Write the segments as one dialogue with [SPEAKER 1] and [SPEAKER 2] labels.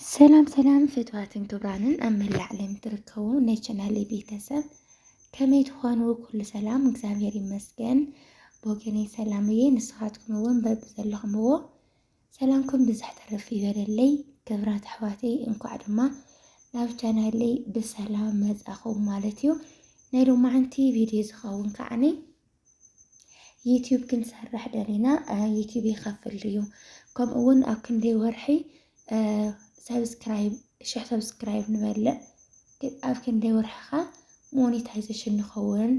[SPEAKER 1] ሰላም ሰላም ፍትዋትን ክብራንን ኣብ መላእ ዓለም ትርከቡ ናይ ቻናል ቤተሰብ ከመይ ትኾኑ? ኩሉ ሰላም እግዚኣብሔር ይመስገን። ብወገነይ ሰላም እየ። ንስኻትኩም እውን በብዘለኹምዎ ሰላምኩም ብዝሕ ተረፍ ይበለለይ። ክብራት ኣሕዋተይ እንኳዕ ድማ ናብ ቻናለይ ብሰላም መፃኹም ማለት እዩ። ናይ ሎማዓንቲ ቪድዮ ዝኸውን ከዓኒ ዩትዩብ ክንሰርሕ ደሊና ዩትዩብ ይኸፍል ድዩ ከምኡ እውን ኣብ ክንደይ ወርሒ ሰብስክራይብ ሽሕ ሰብስክራይብ ንበልዕ ኣብ ክንደይ ወርሕኻ ሞኒታይዜሽን ንኸውን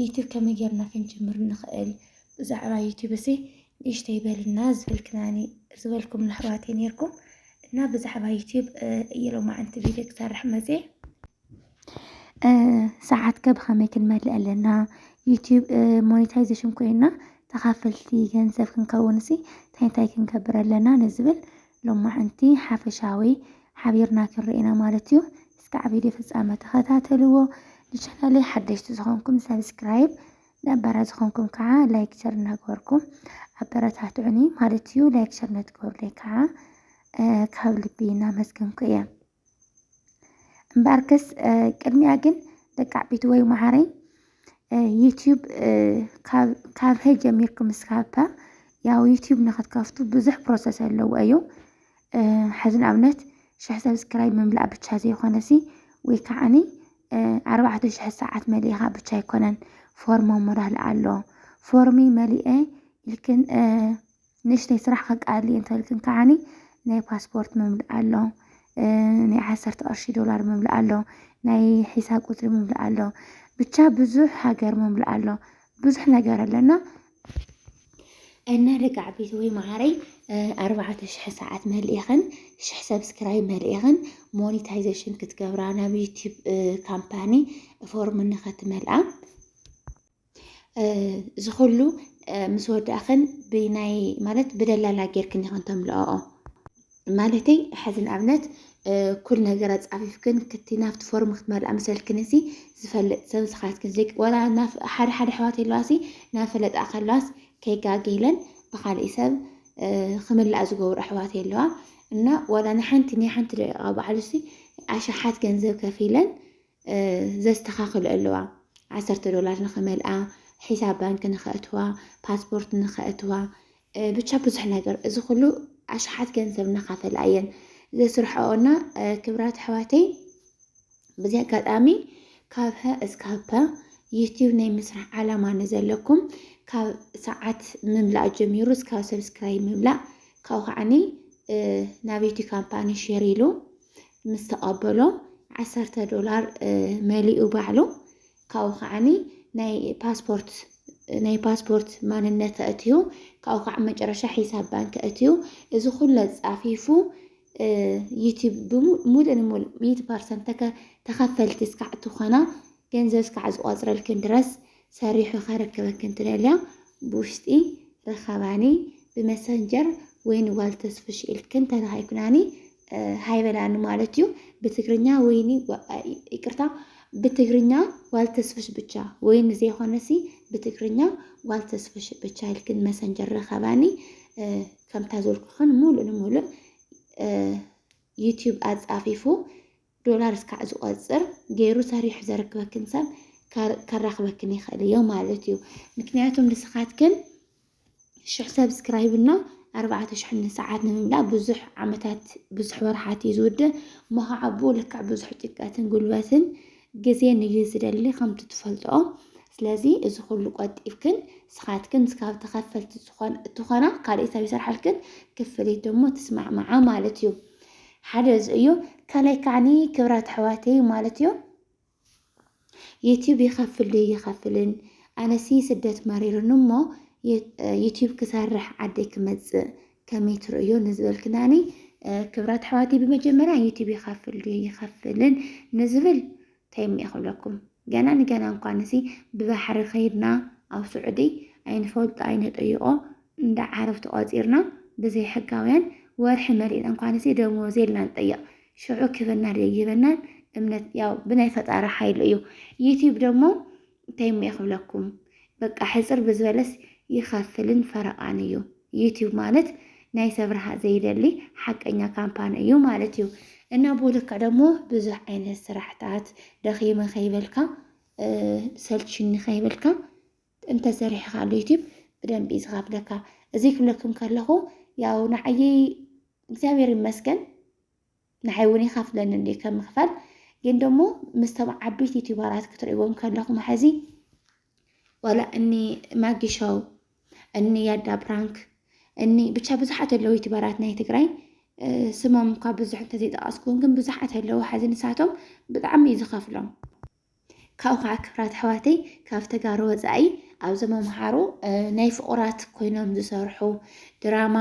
[SPEAKER 1] ዩትዩብ ከመይ ጌርና ክንጅምር ንኽእል ብዛዕባ ዩትዩብ እዚ ንእሽተይ በልና ዝበልክናኒ ዝበልኩም ኣሕዋተይ ነይርኩም እና ብዛዕባ ዩትዩብ እየሎማዕንቲ ቪድዮ ክሰርሕ መፅየ ሰዓት ከ ብኸመይ ክንመልእ ኣለና? ዩቱብ ሞኒታይዘሽን ኮይና ተኻፈልቲ ገንዘብ ክንከውንሲ እንታይ እንታይ ክንገብር ኣለና? ንዝብል ሎማዕንቲ ሓፈሻዊ ሓቢርና ክንርኢ ኢና ማለት እዩ። እስካዕ ቪድዮ ፍጻመ ተኸታተልዎ። ንቻናለይ ሓደሽቲ ዝኾንኩም ሰብስክራይብ፣ ነባራ ዝኾንኩም ከዓ ላይክ ሸር እናገበርኩም ኣበረታትዑኒ ማለት እዩ። ላይክ ሸር ነትገብሩለይ ከዓ ካብ ልቢ እናመስገንኩ እየ። እምበኣርከስ ቅድሚያ ግን ደቂ ዓበይቲ ወይ መሃረይ ዩትዩብ ካብ ሀ ጀሚርኩም እስካብ ፐ ያው ዩትዩብ ንክትከፍቱ ብዙሕ ፕሮሰስ ኣለዎ እዩ ሕዚ ንኣብነት ሽሕ ሰብስክራይብ ምምላእ ብቻ ዘይኮነሲ ወይ ከዓኒ ኣርባዕተ ሽሕ ሰዓት መሊእኻ ብቻ ኣይኮነን ፎርም ሞራል ኣሎ ፎርሚ መሊኤ ኢልክን ንእሽተይ ስራሕ ከቃልል እየ እንተልክን ከዓኒ ናይ ፓስፖርት ምምላእ ኣሎ ናይ ዓሰርተ ቅርሺ ዶላር ምምላእ ኣሎ ናይ ሒሳብ ቁፅሪ ምምላእ ኣሎ ብቻ ብዙሕ ሃገር ምምላእ ኣሎ ብዙሕ ነገር ኣለና እና ደቃዕ ቤት ወይ መዓረይ ኣርባዕተ ሽሕ ሰዓት መልእኽን ሽሕ ሰብስክራይብ መልእኽን ሞኒታይዜሽን ክትገብራ ናብ ዩቲብ ካምፓኒ ፎርም ንኸትመልኣ እዚ ኩሉ ምስ ወዳእኽን ብናይ ማለት ብደላላ ጌርክን ኢኽን ተምልኣኦ ማለተይ ሕዚ ንኣብነት ኩል ነገር ኣፃፊፍክን ክቲ ናብቲ ፎርም ክትመልኣ መሰልክን እዚ ዝፈልጥ ሰብ ንስኻትክን ዘይ ወላ ሓደ ሓደ ኣሕዋት ኣለዋ ሲ ናብ ፈለጣ ከለዋስ ከይጋገይለን ብካሊእ ሰብ ክምላእ ዝገብሩ ኣሕዋት ኣለዋ እና ወላ ንሓንቲ ናይ ሓንቲ ደቂቃ በዓሉ ሲ ኣሽሓት ገንዘብ ከፊለን ዘስተኻኽልኦ ኣለዋ ዓሰርተ ዶላር ንኽመልኣ ሒሳብ ባንኪ ንኸእትዋ ፓስፖርት ንኸእትዋ ብቻ ብዙሕ ነገር እዚ ኩሉ ኣሽሓት ገንዘብ እናኻፈላ እየን ዘስርሐኦ እና ክብራት ኣሕዋተይ በዚ ኣጋጣሚ ካብ ሀ እስካብ ፐ ዩቲዩብ ናይ ምስራሕ ዓላማ ንዘለኩም ካብ ሰዓት ምምላእ ጀሚሩ እስካብ ሰብስክራይብ ምምላእ ካብኡ ከዓኒ ናብ ዩቲ ካምፓኒ ሼር ኢሉ ምስ ተቐበሎ ዓሰርተ ዶላር መሊኡ ባዕሉ ካብኡ ከዓኒ ናይ ፓስፖርት ናይ ፓስፖርት ማንነት ኣእትዩ ካብኡ ከዓ መጨረሻ ሒሳብ ባንክ ኣእትዩ እዚ ኩለ ፃፊፉ ዩቲብ ሙሉእ ንሙሉእ ሚእቲ ፐርሰንት ተኸፈልቲ እስካዕ ትኾና ገንዘብ እስካዕ ዝቆፅረልክን ድረስ ሰሪሑ ከረክበኪ እንትደልያ ብውሽጢ ርኸባኒ ብመሰንጀር ወይኒ ጓል ተስፍሽ ኢልኪ እንተረኺብክናኒ ሃይ በላኒ ማለት እዩ ብትግርኛ ወይኒ ይቅርታ ብትግርኛ ጓል ተስፍሽ ብቻ ወይኒ ዘይኮነሲ ብትግርኛ ጓል ተስፍሽ ብቻ ኢልክን መሰንጀር ረኸባኒ ከምታ ዘልኩኽን ሙሉእ ንሙሉእ ዩትዩብ ኣጻፊፉ ዶላር እስካዕ ዝቆፅር ገይሩ ሰሪሑ ዘረክበክን ሰብ ከራክበክን ይክእል እዮ ማለት እዩ ምክንያቱም ንስካትክን ሽሕ ሰብስክራይብ እና ኣርባዕተ ሽሕ ንሰዓት ንምምላእ ብዙሕ ዓመታት ብዙሕ ወርሓት እዩ ዝውድእ እሞ ከዓ ብኡ ልክዕ ብዙሕ ጭቀትን ጉልበትን ግዜን እዩ ዝደሊ ከምቲ ትፈልጥኦ ስለዚ እዚ ኩሉ ቆጢብክን ስኻትክን ስካብ ተኸፈልቲ እትኾና ካልእ ሰብ ይሰርሓልክን ክፍሊት ደሞ ትስማዕማዓ ማለት እዩ ሓደ እዚ እዩ ካልኣይ ከዓኒ ክብራት ኣሕዋተይ ማለት እዩ ዩቲዩብ ይኸፍል ድዩ ይኸፍልን ኣነሲ ስደት መሪሩኒ እሞ ዩቲዩብ ክሰርሕ ዓደይ ክመፅእ ከመይ ትርእዮ ንዝበልክናኒ ክብራት ኣሕዋተይ ብመጀመርያ ዩቲዩብ ይኸፍል ድዩ ይኸፍልን ንዝብል ታይ እሞ ክብለኩም ገና ንገና እንኳንሲ ብባሕሪ ከይድና ኣብ ስዑዲ ኣይንፈልጦ ኣይንጠይቆ እንዳ ዓረብ ተቋፂርና ብዘይ ሕጋውያን ወርሒ መሊእና እንኳንሲ ደሞዝ የልና ንጠይቅ ሽዑ ክህበና ደይህበናን እምነት ያው ብናይ ፈጣሪ ሓይሊ እዩ ዩቲብ ደሞ እንታይ እሞ ክብለኩም በቃ ሕጽር ብዝበለስ ይኸፍልን ፈረቓን እዩ። ዩቲዩብ ማለት ናይ ሰብ ረሃ ዘይደሊ ሓቀኛ ካምፓኒ እዩ ማለት እዩ። እና ቦለካ ደግሞ ብዙሕ ዓይነት ስራሕታት ደኺመ ከይበልካ ሰልችኒ ከይበልካ እንተሰሪሕኻሉ ዩቲዩብ ብደንብ እዩ ዝኸፍለካ። እዚ ክብለኩም ከለኹ ያው ንዓየይ እግዚኣብሔር ይመስገን ንዓይ ውን ይከፍለኒ እንድዩ ከም ምክፋል ግን ደሞ ምስቶም ዓበይቲ ዩቲዩበራት ክትርእዎም ከለኹም ሐዚ ዋላ እኒ ማጊ ሾው እኒ ያዳ ፕራንክ እኒ ብቻ ብዙሓት ኣለዉ ዩቲዩበራት ናይ ትግራይ ስሞም እኳ ብዙሕ እንተዘይጠቐስኩም ግን ብዙሓት ኣለዉ ሐዚ ንሳቶም ብጣዕሚ እዩ ዝኸፍሎም ካብኡ ከዓ ክብራት ኣሕዋተይ ካብ ተጋሩ ወፃኢ ኣብዞም ኣምሓሩ ናይ ፍቑራት ኮይኖም ዝሰርሑ ድራማ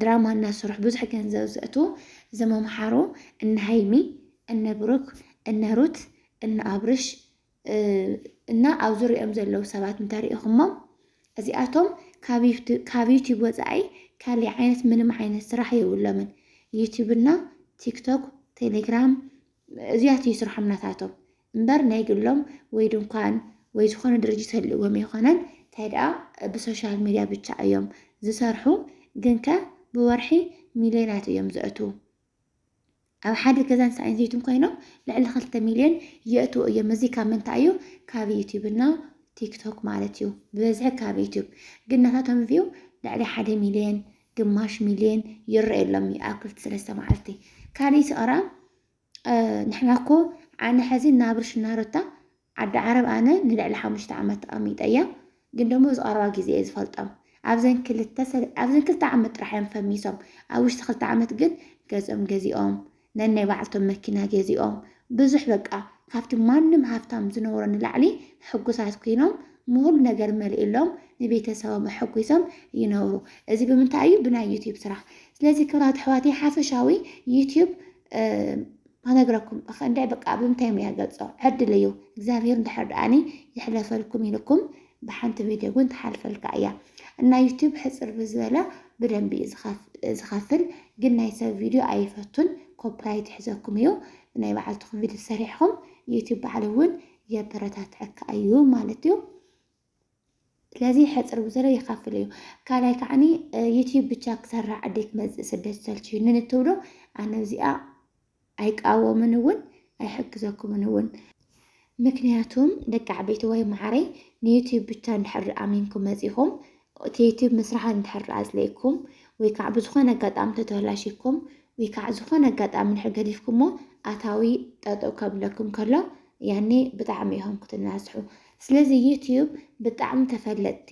[SPEAKER 1] ድራማ እናሰርሑ ብዙሕ ገንዘብ ዘእቱ እዞም ኣምሓሩ እነ ሃይሚ እነ ብሩክ እነ ሩት እነ ኣብርሽ እና ኣብ ዙሪኦም ዘለዉ ሰባት እንተሪኢኹሞም እዚኣቶም ካብ ዩቲዩብ ወፃኢ ካሊእ ዓይነት ምንም ዓይነት ስራሕ የብሎምን። ዩቲዩብ እና ቲክቶክ፣ ቴሌግራም፣ እዚያት እዩ ስርሖም ናታቶም እምበር ናይ ግሎም ወይ ድንኳን ወይ ዝኾነ ድርጅት ህልዎም ኣይኮነን። እንታይ ደኣ ብሶሻል ሚድያ ብቻ እዮም ዝሰርሑ፣ ግን ከ ብወርሒ ሚልዮናት እዮም ዘእትዉ። ኣብ ሓደ ገዛን ሰብኣይን ዘይቱን ኮይኖም ልዕሊ ክልተ ሚልዮን የእትዉ እዮም። እዚ ካብ ምንታይ እዩ? ካብ ዩቲዩብ እና ቲክቶክ ማለት እዩ። ብበዝሒ ካብ ዩቲዩብ ግን ናታቶም ቪው ልዕሊ ሓደ ሚልዮን ግማሽ ሚልዮን ይረኣየሎም ይኣክል ሰለስተ መዓልቲ ካልእ ስቕራ ንሕና እኮ ኣነ ሕዚ ናብርሽ ናሮታ ዓዲ ዓረብ ኣነ ንልዕሊ ሓሙሽተ ዓመት ተቐሚጠ እያ ግን ደሞ ዝቐረባ ግዜ እየ ዝፈልጦም ኣብዘን ክልተ ኣብዘን ክልተ ዓመት ጥራሕ እዮም ፈሚሶም ኣብ ውሽጢ ክልተ ዓመት ግን ገዝኦም ገዚኦም ነናይ ባዕልቶም መኪና ገዚኦም ብዙሕ በቃ ካብቲ ማንም ሃፍታም ዝነብሮ ንላዕሊ ሕጉሳት ኮይኖም ምኹሉ ነገር መሊኡሎም ንቤተሰቦም ኣሐጒሶም ይነብሩ። እዚ ብምንታይ እዩ? ብናይ ዩትዩብ ስራሕ። ስለዚ ክብራት ኣሕዋተይ ሓፈሻዊ ዩትዩብ ክነግረኩም እኽ እንድዒ በቃ ብምንታይ እየ ገልጾ ዕድል እዩ እግዚኣብሄር እንድሕር ደኣኒ ይሕለፈልኩም ኢልኩም ብሓንቲ ቪድዮ ውን ትሓልፈልካ እያ እና ዩቱብ ሕፅር ብዝበለ ብደንቢ እዩ ዝከፍል ግን ናይ ሰብ ቪድዮ ኣይፈቱን ኮፕራይት ይሕዘኩም እዩ ናይ በዓልትኩም ቪድዮ ሰሪሕኩም ዩቱብ በዓሉ ውን የበረታትዐካ እዩ ማለት እዩ ስለዚ ሕፅር ብዘሎ ይኸፍል እዩ ካልኣይ ከዓኒ ዩትዩብ ብቻ ክሰራ ዓደይ ክመፅእ ስደት ሰልችዩኒ ንትብሎ ኣነ እዚኣ ኣይቃወምን እውን ኣይሕግዘኩምን እውን። ምክንያቱም ደቂ ዓበይትዋይ መዓረይ ንዩቲዩብ ብቻ እንድሕር ኣሚንኩም መፂኹም እቲ ዩቲዩብ ምስራሕ እንድሕር ኣፅሊእኩም ወይ ከዓ ብዝኾነ ኣጋጣሚ ተተላሺኩም ወይ ከዓ ዝኾነ ኣጋጣሚ እንድሕር ገዲፍኩሞ ኣታዊ ጠጠው ከብለኩም ከሎ ያኔ ብጣዕሚ ኢኹም ክትናስሑ። ስለዚ ዩቲዩብ ብጣዕሚ ተፈለጥቲ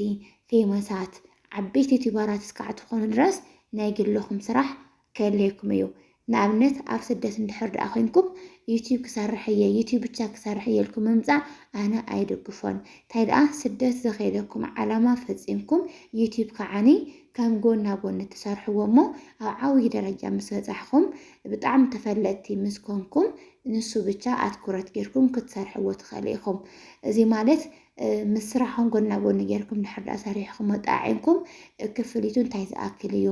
[SPEAKER 1] ፌመሳት ዓበይቲ ዩቲዩበራት እስካዕ ትኾኑ ድረስ ናይ ግልኹም ስራሕ ክህልየኩም እዩ ንኣብነት ኣብ ስደት እንድሕር ደኣ ኮይንኩም ዩቲዩብ ክሰርሕ እየ ዩቲዩብ ብቻ ክሰርሕ እየ ኢልኩም ምምጻእ ኣነ ኣይድግፎን እንታይ ደኣ ስደት ዘኸየደኩም ዓላማ ፈጺምኩም ዩቲዩብ ከዓኒ ከም ጎና ጎኒ ትሰርሕዎ እሞ ኣብ ዓብዪ ደረጃ ምስ በጻሕኹም ብጣዕሚ ተፈለጥቲ ምስ ኮንኩም ንሱ ብቻ ኣትኩረት ጌርኩም ክትሰርሕዎ ትኸእሉ ኢኹም እዚ ማለት ምስ ስራሕኹም ጎና ጎኒ ጌርኩም ድሕር ድኣ ሰሪሕኹሞ ጣዒምኩም ክፍሊቱ እንታይ ዝኣክል እዩ?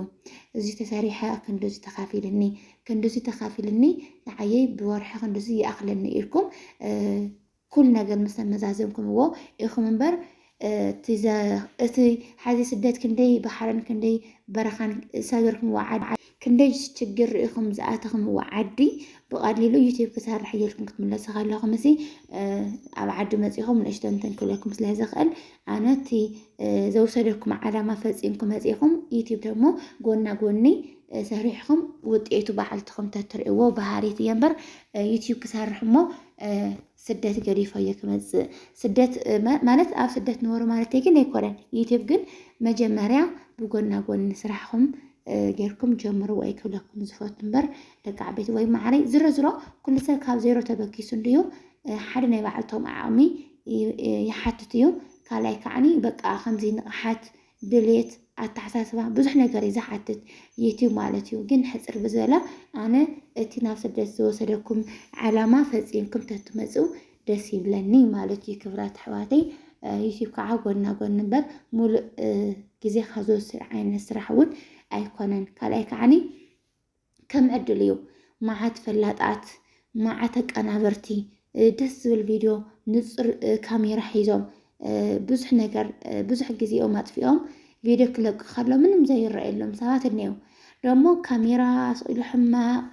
[SPEAKER 1] እዚ ተሰሪሐ ክንድዚ ተኻፊልኒ፣ ክንድዚ ተኻፊልኒ ንዓየይ ብወርሒ ክንድዚ ይኣኽለኒ ኢልኩም ኩሉ ነገር ምስ ተመዛዘምኩምዎ ኢኹም እምበር እቲ ሓዚ ስደት ክንደይ ባሕርን ክንደይ በረኻን ሰገርኩም ወዓድ ክንደይ ሽግር ርኢኹም ዝኣተኽምዎ ዓዲ ብቐሊሉ ዩቲዩብ ክሰርሕ እየ ኢልኩም ክትምለሱ ከለኹም እዚ ኣብ ዓዲ መፂኹም ንእሽቶ እንትን ክብለኩም ስለ ዝኽእል ኣነ እቲ ዘውሰደኩም ዓላማ ፈፂምኩም መፂኹም ዩቲዩብ ደግሞ ጎና ጎኒ ሰሪሕኹም ውጤቱ በዓልትኹም ተትርእዎ ባህሪት እየ እምበር ዩቲዩብ ክሰርሕ እሞ ስደት ገዲፈዮ ክመጽእ ስደት ማለት ኣብ ስደት ንበሩ ማለት ግን ኣይኮነን። ዩቲዩብ ግን መጀመርያ ብጎና ጎኒ ስራሕኹም ጌርኩም ጀምሩ ወይ ክብለኩም ዝፈቱ እምበር ደቂ ዓበይቲ ወይ ማዕረይ ዝሮ ዝሮ ኩሉ ሰብ ካብ ዜሮ ተበኪሱ እንድዩ ሓደ ናይ ባዕልቶም ዓቕሚ ይሓትት እዩ። ካልኣይ ከዓኒ በቃ ከምዚ ንቕሓት ድሌት ኣተሓሳስባ ብዙሕ ነገር እዩ ዝሓትት ዩትዩብ ማለት እዩ። ግን ሕፅር ብዝበለ ኣነ እቲ ናብ ስደት ዝወሰደኩም ዓላማ ፈፂምኩም ተትመፅኡ ደስ ይብለኒ ማለት እዩ። ክብራት ኣሕዋተይ ዩትዩብ ከዓ ጎና ጎን እምበር ሙሉእ ግዜኻ ዝወስድ ዓይነት ስራሕ እውን ኣይኮነን። ካልኣይ ከዓኒ ከም ዕድል እዩ መዓት ፈላጣት መዓት ኣቀናበርቲ ደስ ዝብል ቪድዮ ንፁር ካሜራ ሒዞም ብዙሕ ነገር ብዙሕ ግዜኦም ኣጥፊኦም ቪድዮ ክለቁ ከሎ ምንም ዘይረኣየሎም ሰባት እኔው ደሞ ካሜራ ስኢሉ ሕማቕ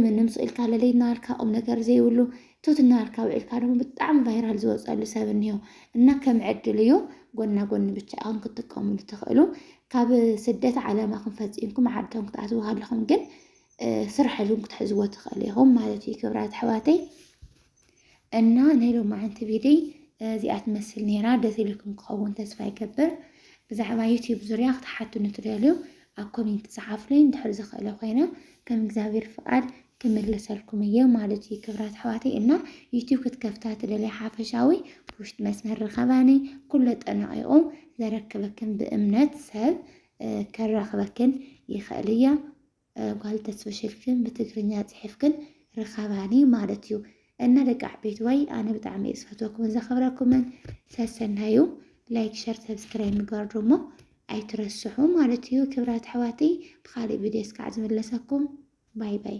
[SPEAKER 1] ምንም ስኢልካ ለለይናልካ ቁም ነገር ዘይብሉ ቱት እናበልካ ውዒልካ ድማ ብጣዕሚ ቫይራል ዝወፀሉ ሰብ እኒሆ እና ከም ዕድል እዩ ጎና ጎኒ ብቻ ኢኹም ክትጥቀሙሉ ትኽእሉ ካብ ስደት ዓለማኹም ፈፂምኩም ዓድኹም ክትኣትዉ ከለኹም ግን ስራሕ እውን ክትሕዝዎ ትኽእሉ ኢኹም ማለት እዩ ክብራት ኣሕዋተይ እና ናይ ሎማዓንቲ ቪድይ እዚኣ ትመስል ነይራ ደስ ኢልኩም ክኸውን ተስፋ ይገብር ብዛዕባ ዩትዩብ ዙርያ ክትሓቱኒ ትደልዩ ኣብ ኮሜንት ፀሓፍለይ እንድሕር ዝኽእለ ኮይነ ከም እግዚኣብሔር ፍቃድ ክምልሰልኩም እየ ማለት እዩ ክብራት ኣሕዋተይ እና ዩቲዩብ ክትከፍታ ትደልያ ሓፈሻዊ ብውሽጢ መስመር ርኸባኒ ኩሎ ጠናቂቑ ዘረክበክን ብእምነት ሰብ ከራኽበክን ይኽእል እያ ጓል ተስፍሽልክን ብትግርኛ ፅሒፍክን ርኸባኒ ማለት እዩ እና ደቂ ዓበይትዋይ ኣነ ብጣዕሚ እየ ዝፈትወኩምን ዘኽብረኩምን ሰሰናዩ ላይክ ሸር ሰብስክራይብ ምግባር ደሞ ኣይትረስሑ ማለት እዩ ክብራት ኣሕዋተይ ብካሊእ ቪድዮ እስካዕ ዝምለሰኩም ባይ ባይ